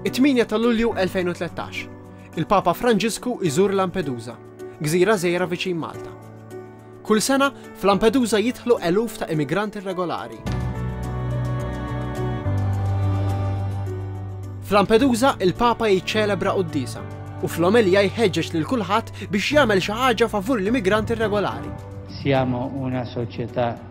It-8 ta' Lulju 2013, il-Papa Franġisku iżur Lampedusa, gżira żejra viċin Malta. Kull sena, f'Lampedusa jidħlu eluf ta' immigranti regolari. F'Lampedusa, il-Papa jiċċelebra quddisa u fl-omelija jħeġġeġ lil kulħadd biex jagħmel xi ħaġa favur l-immigranti regolari. Siamo una società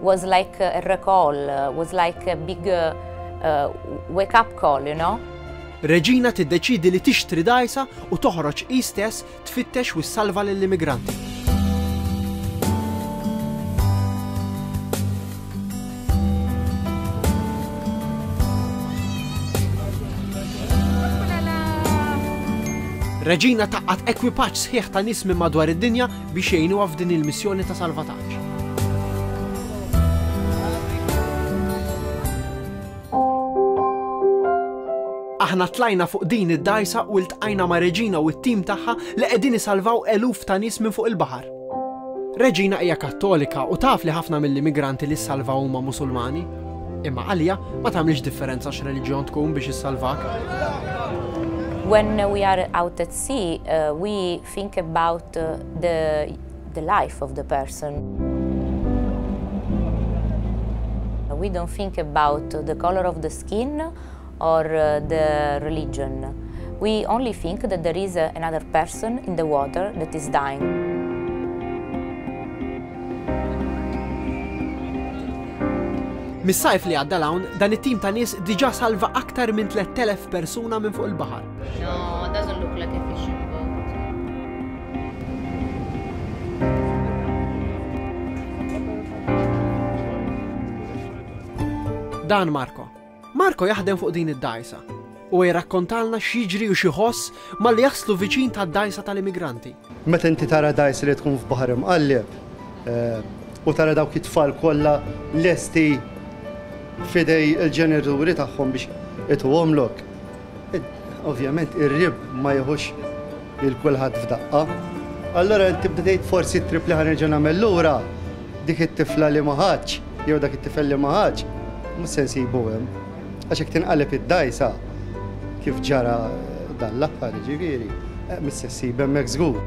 was like a recall, was like a big uh, uh, wake up call, you know. Reġina tiddeċidi li tixtri dajsa u toħroġ hi stess tfittex u salva lill-immigranti. Reġina taqqat ekwipaġġ sħiħ ta' nismi madwar id-dinja biex jgħinuha f'din il-missjoni ta' salvataġġ. Aħna tlajna fuq din id-dajsa u ltqajna ma' Reġina u t-tim tagħha li qegħdin isalvaw eluf ta' nies minn fuq il-baħar. Reġina hija Kattolika u taf li ħafna mill-immigranti li ssalvaw huma Musulmani. Imma għalija ma tagħmlix differenza x'reliġjon tkun biex issalvak. When we are out at sea, uh, we Think about the the life of the person. We don't think about the color of the skin or the religion. We only think that there is another person in the water that is dying. Mis-sajf li għadda 'l hawn, dan it-tim ta' nies diġà salva aktar minn 3,000 persuna minn fuq il-baħar. Dan Marko. Marko jaħdem fuq din id-dajsa u jirrakkontalna x'jiġri u xi ħoss malli jaslu viċin tad-dajsa tal-immigranti. Meta inti tara dgħajsa li tkun f'baħar imqalleb u tara dawk it-tfal kollha lesti f'idej il-ġenituri tagħhom biex ituhomlok, ovvjament ir-rib ma jieħux lil kulħadd f'daqqa. Allura inti tibda tgħid forsi t-trip li ħa nerġa' nagħmel lura, dik it-tifla li ma ħadtx jew dak it-tifel li ma ħadx, mhux se nsibu hemm. Għax jekk tinqaleb id-dgħajsa, kif ġara dan l-aħħar jiġifieri, mhix se ssib hemmhekk żgur.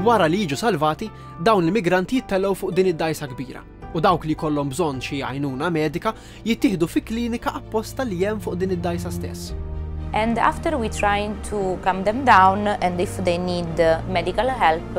Wara li jiġu salvati, dawn l-immigranti jittellgħu fuq din id-dgħajsa kbira u dawk li jkollhom bżonn xi għajnuna medika jittieħdu fi klinika apposta li hemm fuq din id-dgħajsa stess. And after we trying to calm them down and if they need medical help,